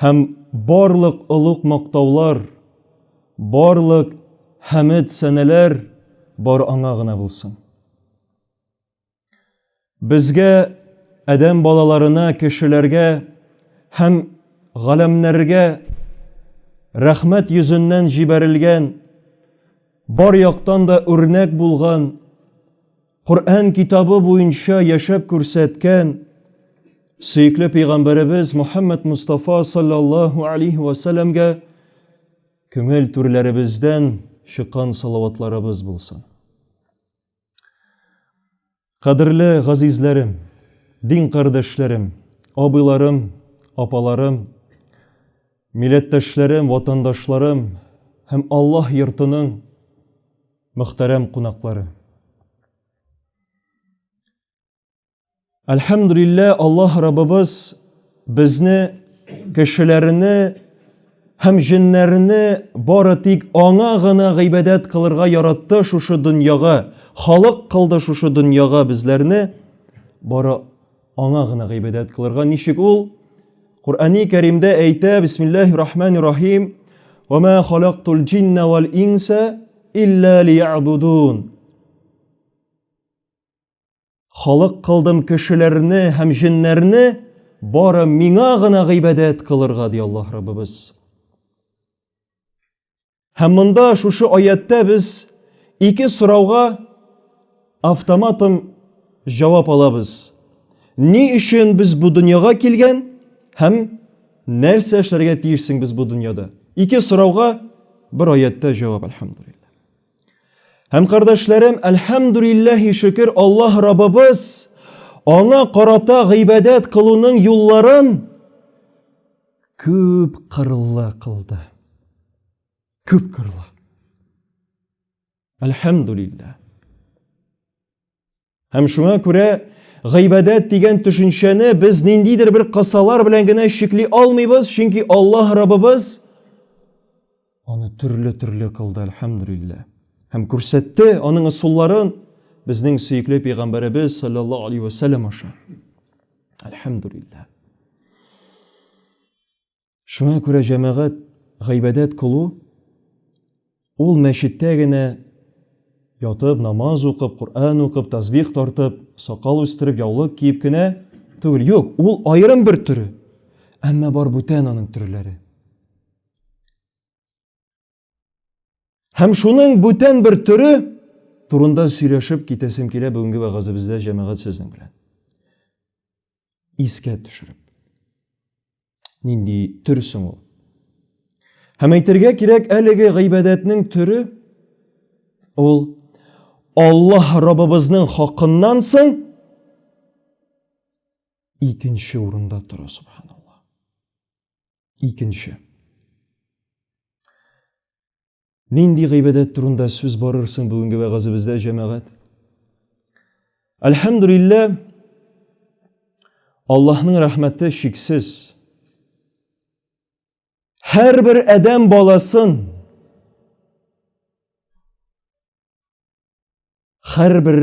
Һәм барлык олуг мактаулар, барлык хәмед сәнәләр бар Аңа гына булсын. Безгә, адәм балаларына, кешеләргә һәм галәмнәргә рәхмәт йөзеннән җибәрелгән, бар яктан да үрнәк булган Коръән китабы буенча яшәп күрсәткән сөекле пәйгамбәребез Мухаммад Мустафа саллаллаһу алейхи ва сәлләмгә күңел түрләребездән чыккан салаватларыбыз булсын. Кадерле газизләрем, дин кардәшләрем, абыйларым, апаларым, милләттәшләрем, ватандашларым һәм Аллаһ йортының Мөхтәрәм кунаклары. Әлхәмдулиллә, Аллаһ Раббыбыз безне кешеләрне һәм җеннәрне бары тик аңа гына гыйбадәт кылырга яратты шушы дөньяга, халык кылды шушы дөньяга безләрне. Бары Аңа гына гыйбадәт кылырга ничек ул? Коръәни Кәримдә әйтә, Бисмиллаһи рахмани рахим, "Ва ма халактул джинна вал инса илля лиябудун". Халык кылдым кешеләрне һәм җеннәрне бары миңа гына гыйбадәт кылырга, ди Аллаһ Раббыбыз. Һәм монда шушы аяттә без ике сорауга автоматом җавап алабыз. Ни өчен без бу дөньяга килгән һәм нәрсә эшләргә тиешсең без бу дөньяда? Ике сорауга бер аятта җавап, әлхәмдулиллаһ. Һәм кардәшләрем, әлхәмдулиллаһи шөкер, Аллаһ Раббыбыз аңа карата гыйбадәт кылуның юлларын Күп кырлы кылды. Күп кырлы. Әлхәмдулиллә. Һәм шуңа күрә гыйбадәт дигән төшенчәне без ниндидер бер кысалар белән генә чикли алмыйбыз, чөнки Аллаһ Раббыбыз Аны төрле-төрле кылды, әлхәмдүлилләһ. Һәм күрсәтте аның ысулларын безнең сөекле пәйгамбәребез саллаллаһу алейһи ва сәлләм аша. Әлхәмдүлилләһ. Шуңа күрә җәмәгать гыйбадәт кылу ул мәчеттә генә ятып, намаз укып, Коръән укып, тәсбих тартып, сакал үстереп, яулык киеп кенә түгел. Юк, ул аерым бер төре. Әмма бар бүтән аның төрләре. Һәм шуның бүтән бер төре турында сөйләшеп китәсем килә бүгенге вәгазебездә җәмәгать сезнең белән. Искә төшереп. Нинди төр соң ул? Һәм әйтергә кирәк, әлеге гыйбадәтнең төре ул Аллаһ Раббыбызның хакыннан соң икенче урында тора субханаллаһ. Икенче. Нинди гыйбадәт турында сүз барыр соң бүгенге вәгазебездә, җәмәгать? Әлхәмдулилла, Аллаһның рәхмәте шиксез. Һәрбер адәм баласын Хәрбер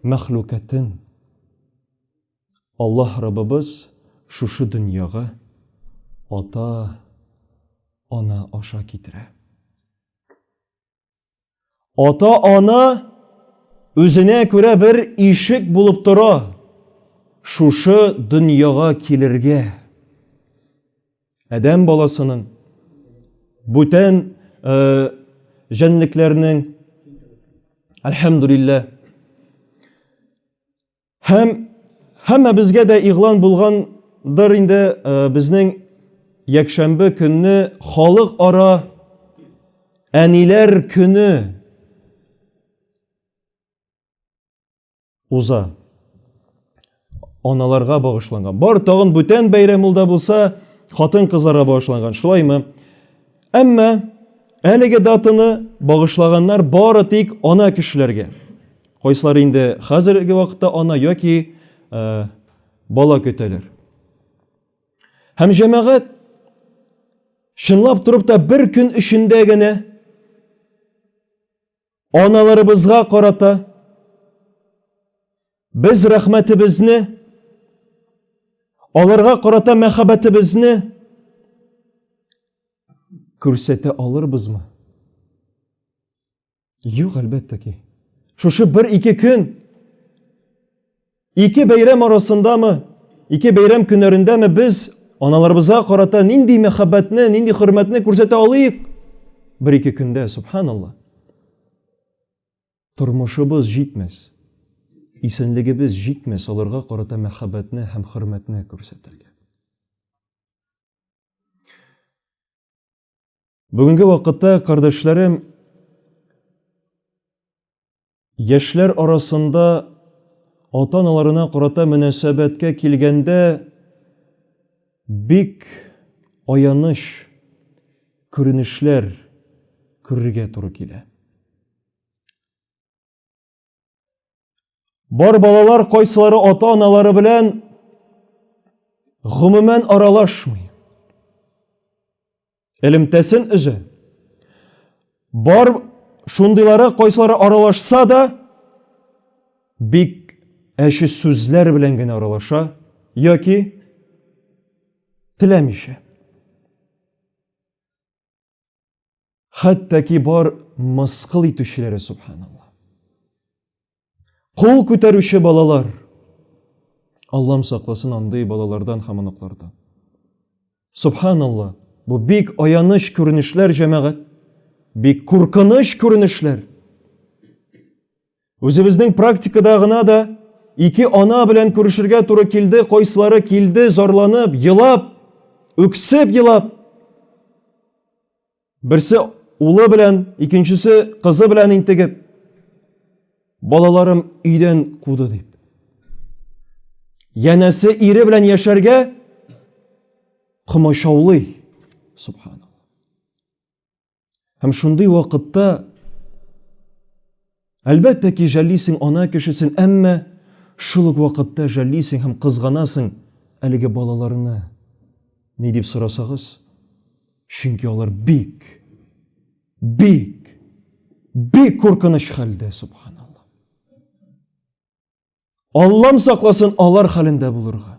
мәхлукатын Аллаһ Раббыбыз шушы дөньяга ата ана аша китерә. Ата ана үзенә күрә бер ишек булып тора шушы дөньяга килергә. Адәм баласының бүтән э, җәнлекләрнең Әлхәмдулиллә. Һәм һәммә безгә дә игълан булгандыр инде э, безнең якшәмбе көнне халык ара әниләр көне уза. Аналарга багышланган. Бар тагын бүтән бәйрәм ул да булса, хатын-кызларга багышланган. Шулаймы? Әмма әлеге датаны багышлаганнар бары тик ана кешеләргә. Кайсылар инде хәзерге вакытта ана яки ә, бала көтәләр. Һәм җәмәгать чынлап торып та бер көн эчендә генә Аналарыбызга карата без рәхмәтебезне, аларга карата мәхәббәтебезне күрсәтә алырбызмы? Юк, әлбәттә ки. Шушы бер-ике көн Ике бәйрәм арасындамы, ике бәйрәм көннәрендәме без аналарыбызга карата нинди мәхәббәтне, нинди хөрмәтне күрсәтә алыйк? Бер-ике көндә, субханалла. Тормышыбыз җитмәс, исәнлегебез җитмәс аларга карата мәхәббәтне һәм хөрмәтне күрсәтергә. Бүгенге вакытта, кардәшләрем, яшьләр арасында ата-аналарына карата мөнәсәбәткә килгәндә бик аяныч күренешләр күрергә туры килә. Бар балалар кайсылары ата-аналары белән гомумән аралашмый. Элемтәсен өзә. Бар шундыйлары кайсылары аралашса да бик әче сүзләр белән генә аралаша яки теләмичә. хәтта ки бар мыскыл итүчеләре субханалла кул күтәрүче балалар аллам сакласын андый балалардан һәм оныклардан субханалла бу бик аяныч күренешләр җәмәгать бик куркыныч күренешләр Үзебезнең практикада гына да ике ана белән күрешергә туры килде, кайсылары килде, зарланып, елап, үксеп елап. Берсе улы белән, икенчесе кызы белән интегеп, балаларым өйдән куды дип. Янәсе ире белән яшәргә комачаулый, субханалла. Һәм шундый вакытта әлбәттә ки, жәллисең ана кешесен, әмма шул ук вакытта жәллисең һәм кызганасың әлеге балаларны. Ни дип сорасагыз? Чөнки алар бик, бик, бик куркыныч хәлдә, субханалла. Аллам сакласын алар хәлендә булырга.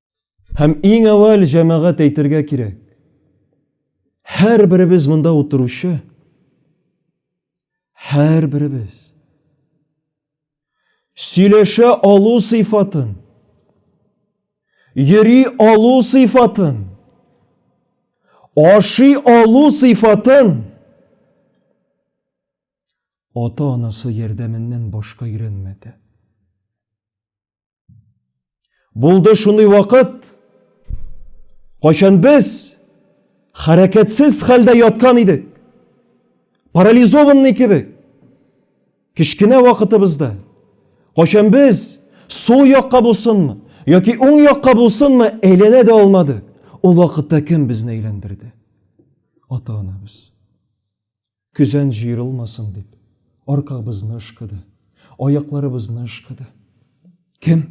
Һәм иң әвәл җәмәгать әйтергә кирәк. Һәр беребез монда утыручы, һәр беребез сөйләшә алу сыйфатын, йөри алу сыйфатын, ашый алу сыйфатын ата-анасы ярдәменнән башка өйрәнмәде. Булды шундый вакыт, кайчан без хәрәкәтсез хәлдә яткан идек, парализованный кебек, кечкенә вакытыбызда, кайчан без сул якка булсынмы, яки уң якка булсынмы, әйләнә дә алмадык. Ул вакытта кем безне әйләндерде? Ата-анабыз. Көзән җыерылмасын дип, аркабызны ышкыды, аякларыбызны ышкыды. Кем?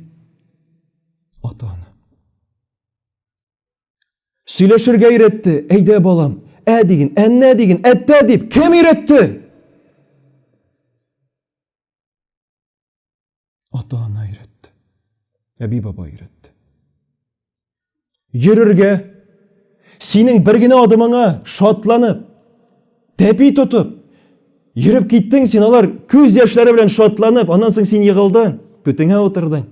Ата-ана. Сөйләшергә өйрәтте, әйдә балам, ә диген, әннә диген, әттә дип, кем өйрәтте? Ата-ана өйрәтте. Әби-баба өйрәтте. Йөрергә, синең бер генә адымыңа шатланып, тәпи тотып, йөреп киттең син, алар күз яшьләре белән шатланып, аннан соң син егылдың, көтеңә утырдың.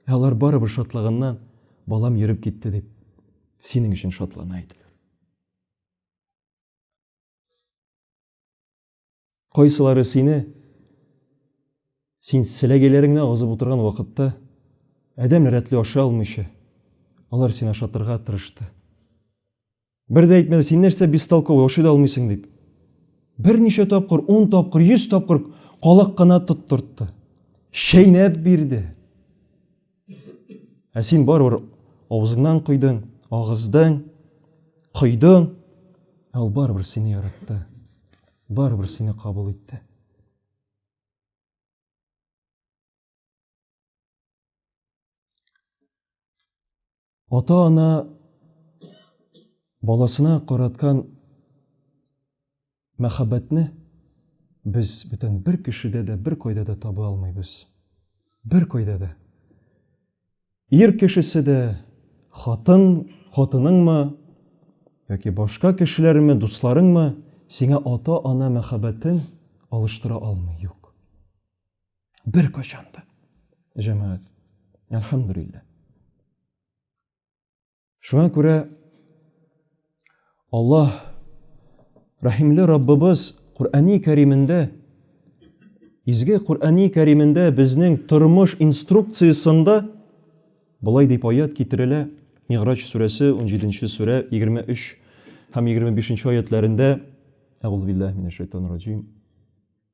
Ә алар барыбер шатлаганнан, балам йөреп китте дип, синең өчен шатлана иде. Кайсылары сине, син селәгәйләреңне агызып утырган вакытта, адәм рәтле ашый алмыйча, алар сине ашатырга тырышты. Бер дә әйтмәде, син нәрсә бестолковый, ашый да алмыйсың дип. Берничә тапкыр, 10 тапкыр, 100 тапкыр калак кына тоттыртты. Чәйнәп бирде. Ә син барыбер авызыңнан койдың, агыздың, койдың, ә ул барыбер сине яратты, барыбер сине кабул итте. Ата-ана баласына караткан мәхәббәтне без бүтән бер кешедә дә, бер кайда да таба алмыйбыз. Бер кайда да. Ир кешесе дә, хатын, хатыныңмы, яки башка кешеләрме, дусларыңмы, сиңа ата-ана мәхәббәтен алыштыра алмый, юк. Бер качан да. Җәмәгать. Әлхәмдүлилләһ. Шуңа күрә Аллаһ Рәхимле Раббыбыз Куръани Кәримендә Изге Куръани Кәримендә безнең тормыш инструкциясендә былай дип аят китерелә Мигъраҗ сүрәсе 17-нче сүрә 23 һәм 25-нче аятларында Әгъузубиллаһи минәш шайтанир раҗим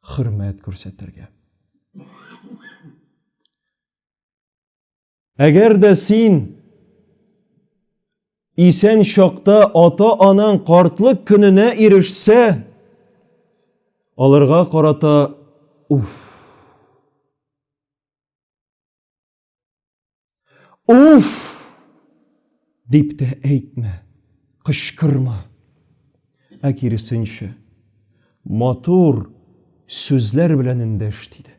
хөрмәт күрсәтергә. Әгәр дә син исән чакта ата-анаң картлык көненә ирешсә, аларга карата уф. Уф! дип тә әйтмә, кычкырма. Ә киресенчә, матур сүзләр белән эндәш диде.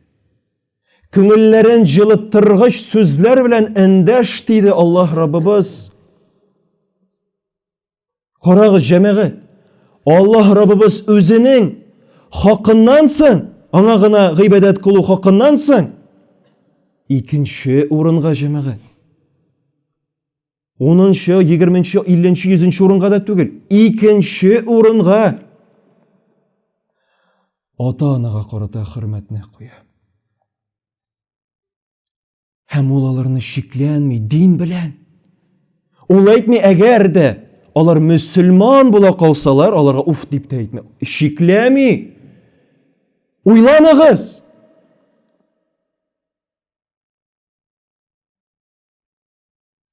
Күңелләрен җылыттыргыч сүзләр белән эндәш диде Аллаһ Раббыбыз. Карагыз, җәмәгать, Аллаһ Раббыбыз үзенең хакыннан соң, аңа гына гыйбадәт кылу хакыннан соң, икенче урынга җәмәгать. Унынчы, егерменче, илленче, йөзенче урынга да түгел, икенче урынга ата-анага карата хөрмәтне куя. Һәм ул аларны шикләнми дин белән. Ул әйтми, әгәр дә алар мөселман була калсалар, аларга уф дип тә әйтми. Шикләми. Уйланыгыз.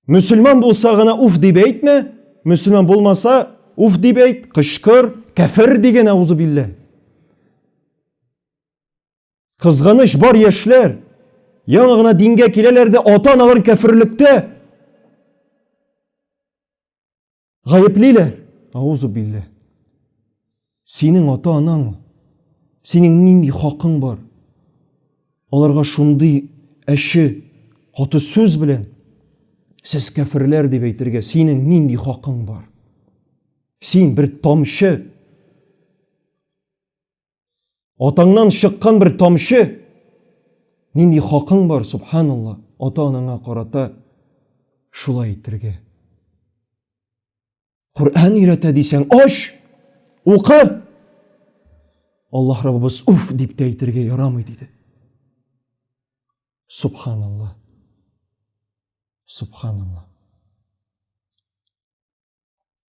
Мөселман булса гына уф дип әйтмә, мөселман булмаса уф дип әйт, кычкыр, кәфер дигән аузы биллә. Кызганыч бар яшьләр яңа гына дингә киләләр дә ата-аналарын кәферлектә Гаеплиләр! Аузу биллә. Синең ата-анаң ул. Синең нинди хакың бар? Аларга шундый әче, каты сүз белән сез кәферләр дип әйтергә синең нинди хакың бар? Син бер тамчы Атаңнан чыккан бер тамчы, нинди хакың бар, субханалла, ата-анаңа карата шулай итергә. Коръән өйрәтә дисәң, аш, укы. Аллаһ Раббыбыз уф дип тә әйтергә ярамый диде. Субханалла. Субханалла.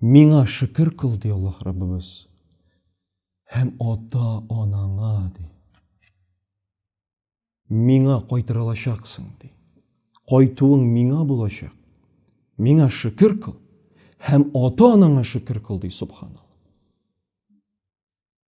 Миңа шөкер кыл, ди Аллаһ Раббыбыз, һәм ата-анаңа, ди. Миңа кайтырылачаксың, ди. Кайтуың миңа булачак. Миңа шөкер кыл һәм ата-анаңа шөкер кыл, ди Субханалла.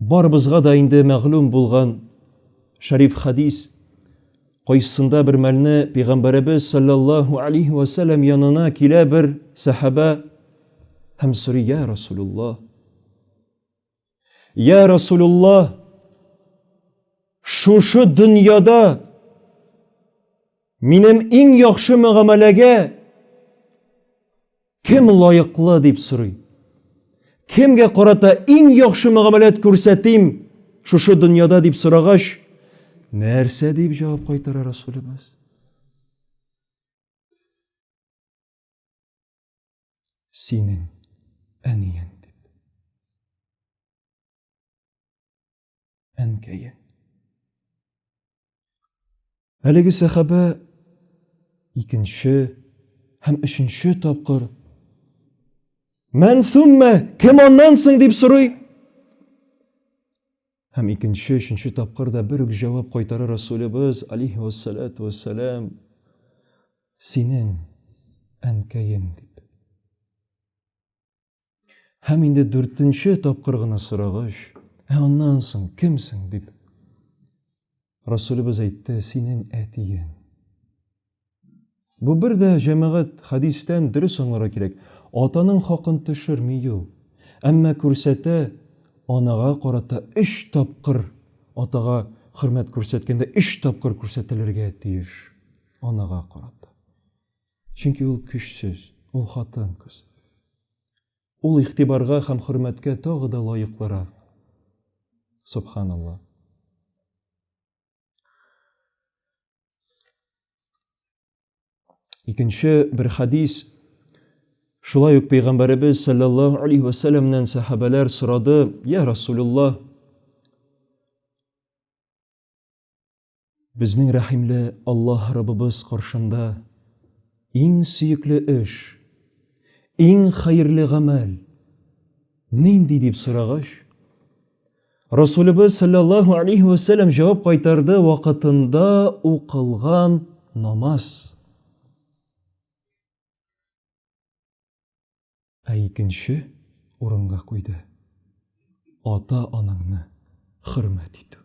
Барыбызга да инде мәгълүм булган шәриф хадис кайсында бер мәлне пәйгамбәребез саллаллаһу алейхи ва саллям янына килә бер сәхабә һәм сорый я расулулла я расулулла шушы дөньяда минем иң яхшы мөгамәләгә Кем лаеклы дип сорый. Кемгә карата иң яхшы мөгамәләт күрсәтим шушы дөньяда дип сорагач, нәрсә дип җавап кайтара Расулебез? Синең әниең. әнкәе. Әлеге сәхабә икенче һәм өченче тапкыр Мән суммә, кем аннан соң дип сорый. Һәм икенче, өченче тапкыр да бер үк җавап кайтара Расулебез алейхи вассалату вассалам. Синең әнкәең дип. Һәм инде дүртенче тапкыр гына сорагач, ә аннан соң кемсең дип Расулыбыз әйтте, синең әтиең. Бу бер дә җәмәгать хадистән дөрес аңларга кирәк. Атаның хакын төшерми ю. Әмма күрсәтә анага карата 3 тапкыр атага хөрмәт күрсәткәндә 3 тапкыр күрсәтелергә тиеш анага карата. Чөнки ул көчсез, ул хатын-кыз. Ул игътибарга һәм хөрмәткә тагы да лаеклырак. Субханалла. Икенче бер хадис Шулай ук пәйгамбәребез саллаллаһу алейхи ва сәлламнән сахабәләр сорады: "Я Расулуллаһ, Безнең рәхимле Аллаһ Раббыбыз каршында иң сөекле эш, иң хәерле гамәл нинди дип сорагач, Расулыбыз саллаллаһу алейхи ва саллям җавап кайтарды вакытында укылган намаз. Ә икенче урынга куйды, ата-анаңны хөрмәт итү.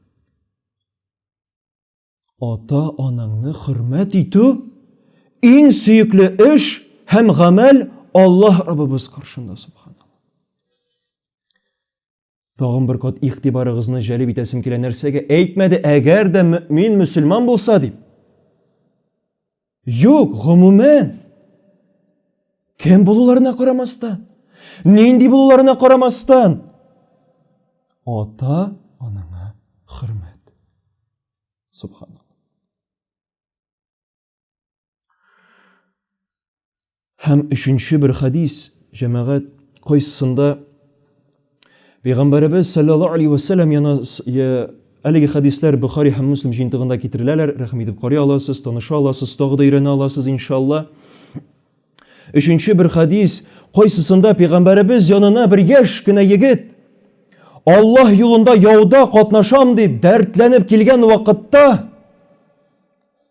Ата-анаңны хөрмәт итү иң сөекле эш һәм гамәл Аллаһ Раббыбыз каршында, субханаллаһ. Тагын бер кат игътибарыгызны җәлеп итәсем килә, нәрсәгә әйтмәде, әгәр дә мөмин мөселман булса дип. Юк, гомумән. Кем булуларына карамастан, нинди булуларына карамастан, ата анаңа хөрмәт. Субханалла. Һәм өченче бер хадис, җәмәгать, кайсында Пәйгамбәребез саллаллаһу алейхи ва саллям яна әлеге хадислар Бухари һәм Муслим җыентыгында китереләләр. Рәхим итеп карый аласыз, таныша аласыз, тагы да өйрәнә аласыз иншалла. Өченче бер хадис, кайсысында Пәйгамбәребез янына бер яшь кенә егет Аллаһ юлында яуда катнашам дип дәртләнеп килгән вакытта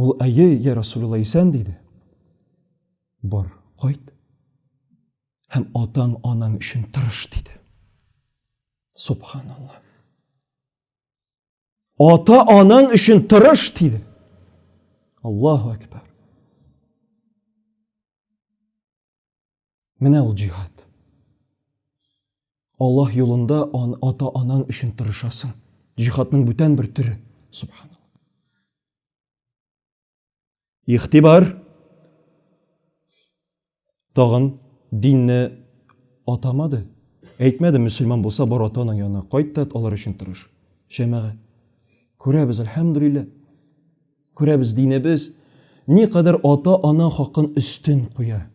Ул, әйе, я Расулилла, исән, диде. Бар, кайт. Һәм атаң, анаң өчен тырыш, диде. Субханалла. Ата, анаң өчен тырыш, диде. Аллаху әкбар. Менә ул җиһад. Аллаһ юлында ан, ата-анаң өчен тырышасың. Җиһадның бүтән бер төре. Субханаллаһ. Ихтибар. Тагын динне атамады. Әйтмәде, мөселман булса, бар ата-анаң янына кайт та алар өчен тырыш. Җәмәгать. Күрәбез, әлхәмдүлилләһ. Күрәбез, динебез никадәр ата-ана хакын өстен куя.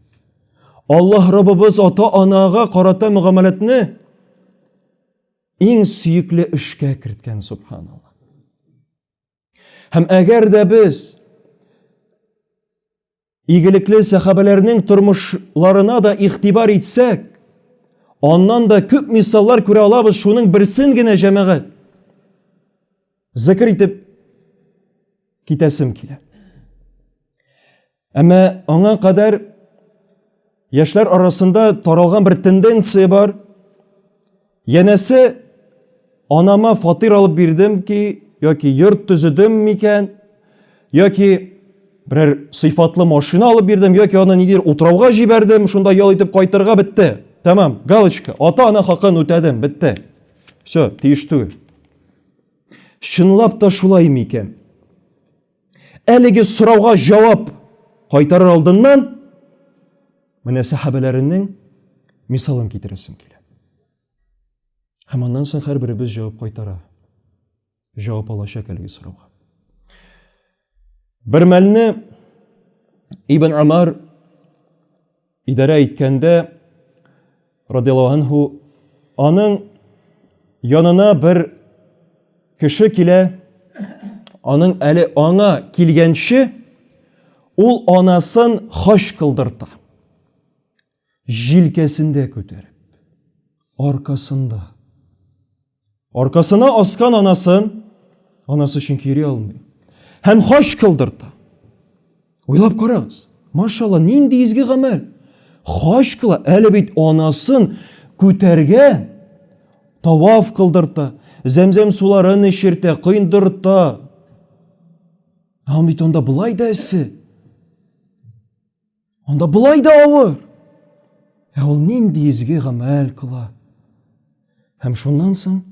Аллаһ Раббыбыз ата-анага карата мөгамәләтне иң сөекле эшкә керткән, субханалла. Һәм әгәр дә без Игелекле сәхабәләрнең тормышларына да игътибар итсәк, аннан да күп мисаллар күрә алабыз, шуның берсен генә җәмәгать зикр итеп китәсем килә. Әмма аңа кадәр Яшьләр арасында таралган бер тенденция бар. Янәсе анама фатир алып бирдем ки, яки йорт төзедем микән, яки берәр сыйфатлы машина алып бирдем, яки аны нидер утрауга җибәрдем, шунда ял итеп кайтырга бетте. Тәмам, галочка, ата-ана хакын үтәдем, бетте. Все, тиеш түгел. Чынлап та шулай микән? Әлеге сорауга җавап кайтарыр алдыннан менә сәхәбәләренең мисалын китерәсем килә. Һәм аннан соң һәрберебез җавап кайтара. Җавап алачак әлеге сорауга. Бер мәлне Ибн Амар Идарә иткәндә радиаллаһу анһу аның янына бер кеше килә, аның әле аңа килгәнче ул анасын хаҗ кылдырта. Җилкәсендә күтәреп, аркасында. Аркасына аскан анасын, анасы чөнки йөри алмый. Һәм хаҗ кылдырта. Уйлап карагыз. Машалла, нинди изге гамәл. Хаҗ кыла, әле бит анасын күтәргә таваф кылдырта, зәмзәм суларын эчертә, коендырта. Һәм бит анда былай да эссе. Анда болай да авыр. Ә ул нинди изге гамәл кыла. Һәм шуннан соң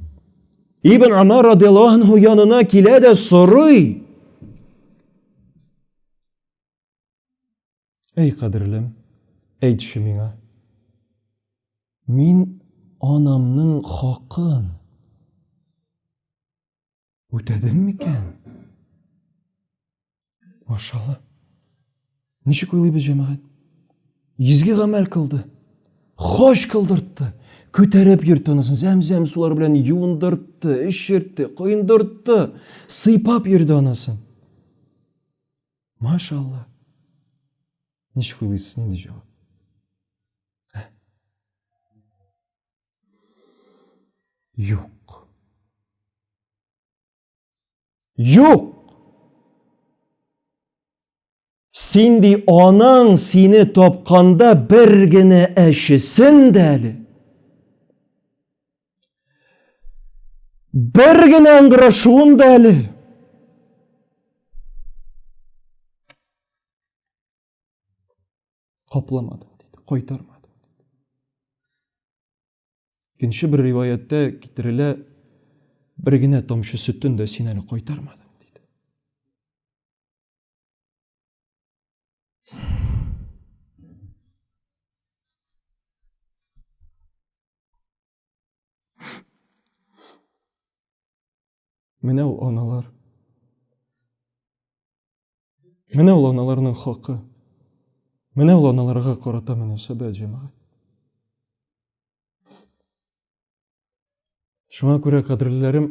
Ибн Амар радиаллаһу анһу янына килә дә сорый. Әй кадерлем, әйтче миңа. Мин анамның хакын Үтәдем микән? Машалла. Ничек уйлыйбыз, җәмәгать? Изге гамәл кылды. Хаҗ кылдыртты. Күтәреп йөртте анысын, зәм-зәм сулар белән юындыртты, эшертте, коендыртты, сыйпап йөрде анысын. Машалла. Ничек уйлыйсыз, нинди җавап? Юк. Юк. Син ди анаң сине тапканда бер генә әчесен дә әле. Бер генә ыңгырашуын да әле. Капламады, диде, кайтармады. Икенче бер риваяттә китерелә, бер генә тамчы сөттен дә син әле кайтармады. Менә ул аналар. Менә ул аналарның хакы. Менә ул аналарга карата мөнәсәбәт җәмәгать. Шуңа күрә, кадерләрем,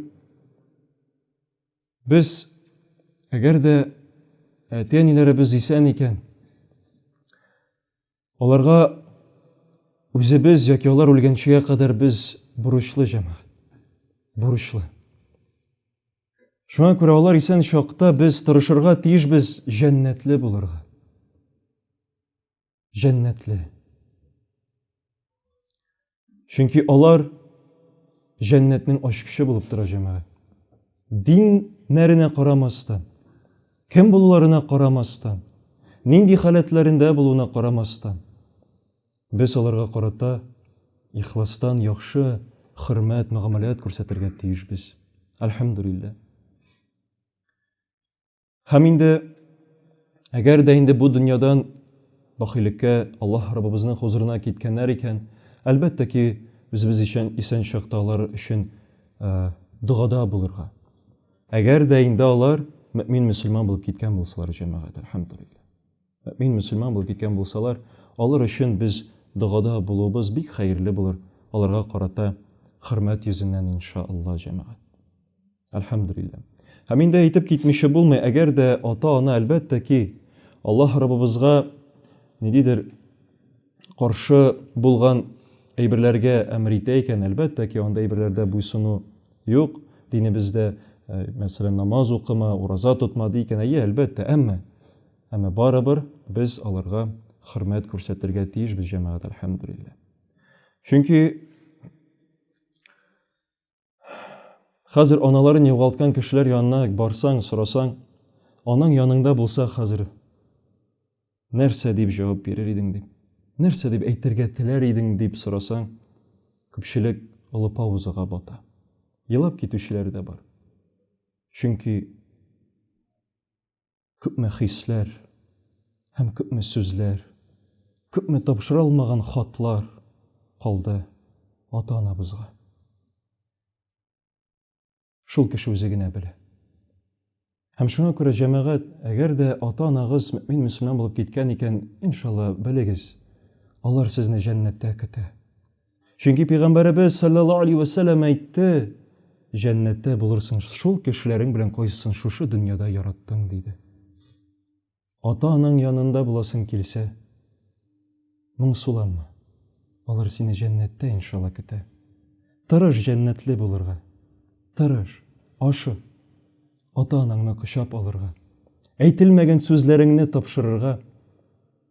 без, әгәр дә әти-әниләребез исән икән, Аларга үзебез яки алар үлгәнчегә кадәр без бурычлы җәмәгать. Бурычлы. Шуңа күрә алар исән чакта без тырышырга тиешбез җәннәтле булырга. Җәннәтле. Чөнки алар җәннәтнең ачкычы булып тора җәмәгать. Диннәренә карамастан, кем булуларына карамастан, нинди халәтләрендә булуына карамастан, без аларга карата ихластан яхшы хөрмәт, мөгамәләт күрсәтергә тиешбез. Альхамдулиллаһ. Һәм инде әгәр дә инде бу дөньядан бахилеккә Аллаһ Раббыбызның хозурына киткәннәр икән, әлбәттә ки, үзебез өчен исән чакта алар өчен э, догада булырга. Әгәр дә инде алар мөмин мөселман булып киткән булсалар, җәмәгать, әлхәмдулилла. Мөмин мөселман булып киткән булсалар, алар өчен без догада булуыбыз бик хәерле булыр, аларга карата хөрмәт йөзеннән иншалла, җәмәгать. Әлхәмдүлиллә. Һәм инде әйтеп китмичә булмый, әгәр дә ата-ана әлбәттә ки, Аллаһ Раббыбызга нидидер каршы булган әйберләргә әмер итә икән, әлбәттә ки, андый әйберләрдә буйсыну юк. Динебездә, э, мәсәлән, намаз укыма, ураза тотма ди икән, әйе, әлбәттә, әмма әмма барыбер без аларга хөрмәт күрсәтергә тиешбез, җәмәгать, әлхәмдүлиллә. Чөнки Хәзер аналарын югалткан кешеләр янына барсаң, сорасаң, аның яныңда булса хәзер нәрсә дип җавап бирер идең дип, нәрсә дип әйтергә теләр идең дип сорасаң, күпчелек олы паузага бата. Елап китүчеләр дә бар. Чөнки Күпме хисләр һәм күпме сүзләр, Күпме тапшыра алмаган хатлар Калды ата-анабызга. Шул кеше үзе генә белә. Һәм шуңа күрә, җәмәгать, әгәр дә ата-анагыз мөэмин-мөселман булып киткән икән, иншалла, белегез, алар сезне җәннәттә көтә. Чөнки пәйгамбәребез саллаллаһу алейһи вәсәлләм әйтте, җәннәттә булырсың шул кешеләрең белән кайсысын шушы дөньяда яраттың диде. Ата-анаң янында буласың килсә, моңсуланма. Алар сине җәннәттә иншалла көтә. Тырыш җәннәтле булырга. Тырыш, ашык. Ата-анаңны кочап алырга. Әйтелмәгән сүзләреңне тапшырырга.